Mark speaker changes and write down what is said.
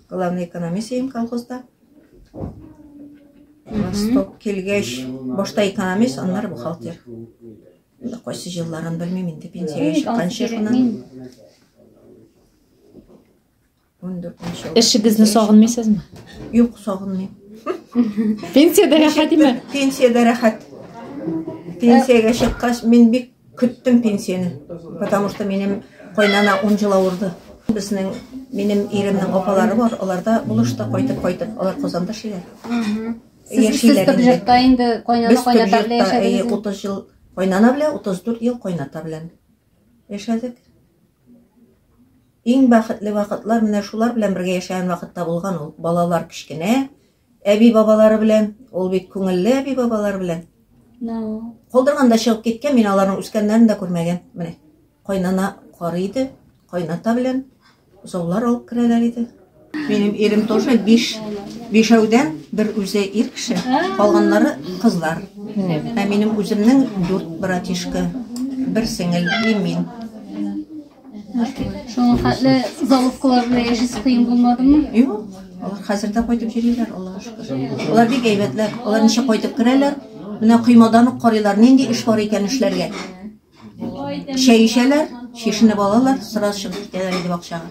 Speaker 1: Главный экономист идем колхозда. Восток килгәч, башта экономист, аннары бухгалтер. Инде кайсы җилларын белмим, инде пенсиягә чыкканчы шуннан.
Speaker 2: Эшегезне сагынмыйсызмы? Юк, сагынмыйм. Пенсиядә рәхәт име? Пенсиядә рәхәт.
Speaker 1: Пенсиягә чыккач, мин бик Көттем пенсияне, потому что минем кайнана 10 жыл авырды. Безнең минем иремнең апалары бар, аларда булышты кайтып кайтып, алар Казанда шиләр. Сез сез Бөбҗәктә
Speaker 3: инде кайнана кайната белән яшәдегез. 30 жыл
Speaker 1: кайнана белән, 34 ел кайната белән яшәдек. Иң бәхетле вакытлар менә шулар белән бергә яшәгән вакытта булган ул. Балалар кечкенә, Әби-бабалары белән, ул бит күңелле әби-бабалары белән. Калдырганда чыгып киткән, мин аларның үскәннәрен дә күрмәгән. Менә кайнана карый иде, кайната белән заулар алып керәләр иде. Минем ирем тоже биш бишәүдән бер үзе ир кеше, калганнары кызлар. Ә минем үземнең дүрт братишка, бер сеңел и мин.
Speaker 3: Шуңа хәтле заловкалар белән яшәсе кыен булмадымы? Юк, алар
Speaker 1: хәзер дә кайтып йөриләр, Аллага шөкер. Алар бик әйбәтләр. Алар ничек кайтып керәләр, менә коймадан ук карыйлар, нинди эш бар икән эшләргә. Чәй эчәләр, чишенеп алалар, сразу чыгып китәләр инде бакчага.